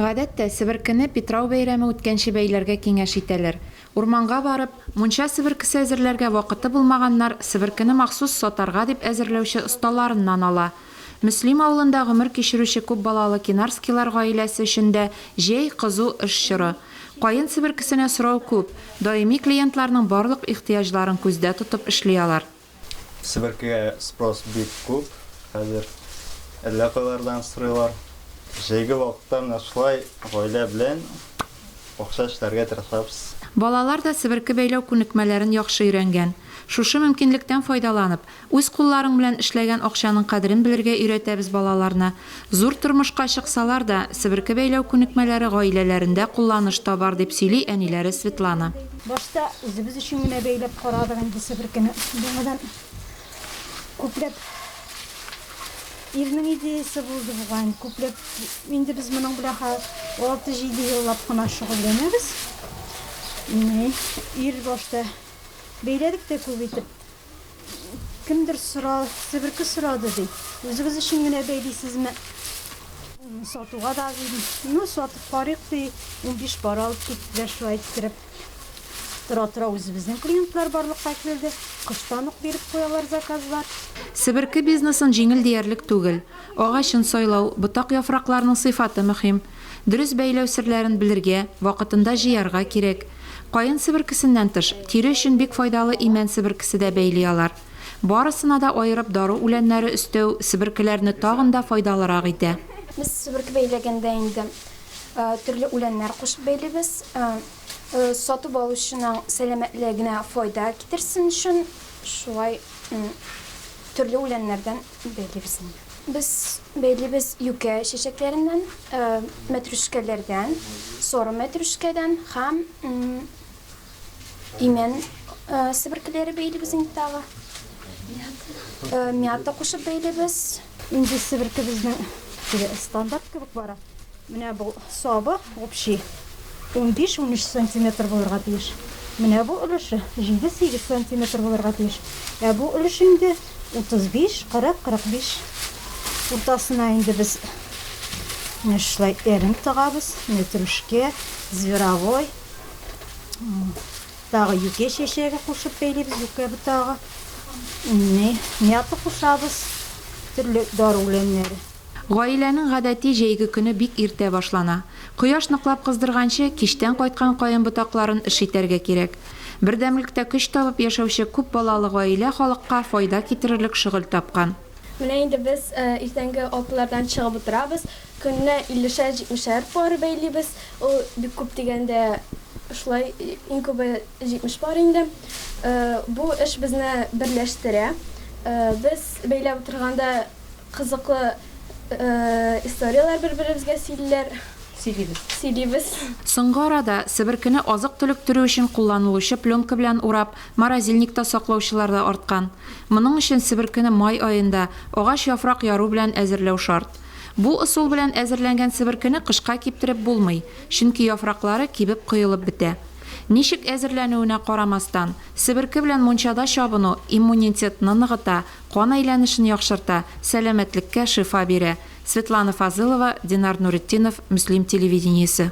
Гадәттә, себеркене Питрау бәйрәме үткәнче бәйләргә киңәш итәләр. Урманга барып, мунча себеркесе әзерләргә вакыты булмаганнар себеркене махсус сатарга дип әзерләүче осталарыннан ала. Мөслим авылында гомер кичерүче күп балалы Кинарскийлар гаиләсе өчен дә җәй, кызу эш чоры. Каен себеркесенә сорау күп, даими клиентларның барлык ихтыяҗларын күздә тотып эшли алар. Себеркегә спрос бик күп хәзер. Әллә кайлардан сорыйлар. Җәйге вакытта менә шулай гаилә белән бакча эшләргә тырышабыз. Балалар да себерке бәйләү күнекмәләрен яхшы өйрәнгән. Шушы мөмкинлектән файдаланып, үз кулларың белән эшләгән акчаның кадерен белергә өйрәтәбез балаларны, Зур тормышка чыксалар да, себерке бәйләү күнекмәләре гаиләләрендә кулланыш табар, дип сөйли әниләре Светлана. Башта үзебез өчен генә бәйләп карадык инде себеркене. Яңадан күпләп ирнең идеясе булды бугай. Күпләп инде без моның белән хәзер алты-җиде еллап кына шөгыльләнәбез. Ир башта бәйләдек тә күп итеп. Кемдер сора, себерке сорады, ди. Үзегез өчен генә бәйлисезме? Сатуга да дидем. Ну, сатып карыйк, ди. 15 пар алып киттеләр шулай иттереп. Тора-тора үзебезнең клиентлар барлыкка килде. Кыштан ук биреп куялар заказлар. Себерке бизнесын җиңел диярлек түгел. Агачын сайлау, ботак-яфракларның сыйфаты мөһим. Дөрес бәйләү серләрен белергә, вакытында җыярга кирәк. Каен себеркесеннән тыш, тире өчен бик файдалы имән себеркесе дә бәйли алар. Барысына да аерып дару үләннәре өстәү себеркеләрне тагын да файдалырак итә. Без себерке бәйләгәндә инде төрле үләннәр кушып бәйлибез. Сатып алучының сәламәтлегенә файда китерсен өчен шулай төрле үләннәрдән бәйлибез инде. Без бәйлибез юкә чәчәкләреннән, мәтрүшкәләрдән, соры мәтрүшкәдән һәм имән себеркеләре бәйлибез инде тагы. Мята кушып бәйлибез. Инде себеркебезнең стандарт кебек бара. Менә бу сабы общий 15-13 сантиметр булырга тиеш. Менә бу өлеше 7-8 сантиметр булырга тиеш. Ә бу өлеш инде 35-40-45 уртасына инде без менә шулай әрем тыгабыз. Менә трүшкә, зверовой, тагы юкә чәчәге кушып бәйлибез, юкә ботагы. Инне, мята кушабыз, төрле дару үләннәре. Гаиләнең гадәти җәйге көне бик иртә башлана. Кояш ныклап кыздырганчы, кичтән кайткан каен ботакларын эшитәргә кирәк. Бердәмлектә көч табып яшәүче күп балалы гаилә халыкка файда китерерлек шөгыль тапкан. Менә инде без иртәнге алтылардан чыгып утырабыз, көненә иллешәр-җитмешәр пар бәйлибез. Ул бик күп дигәндә шулай, иң күбе җитмеш пар инде. Бу эш безне берләштерә. Без бәйләп утырганда, кызыклы историяләр бер-беребезгә сөйлиләр. Сөйлибез. Сөйлибез. Соңгы арада себеркене азык-төлек төрү өчен кулланылучы пленка белән урап, морозильникта саклаучылар да арткан. Моның өчен себеркене май аенда, агач яфрак яру белән әзерләү шарт. Бу ысул белән әзерләнгән себеркене кышка киптереп булмый, чөнки яфраклары кибеп коелып бетә. Ничек әзерләнүенә карамастан, себерке белән мунчада чабыну иммунитетны ныгыта, Кан әйләнешен яхшырта, сәламәтлеккә шифа бирә. Светлана Фазылова, Динар Нуретдинов, Мөслим телевидениесе.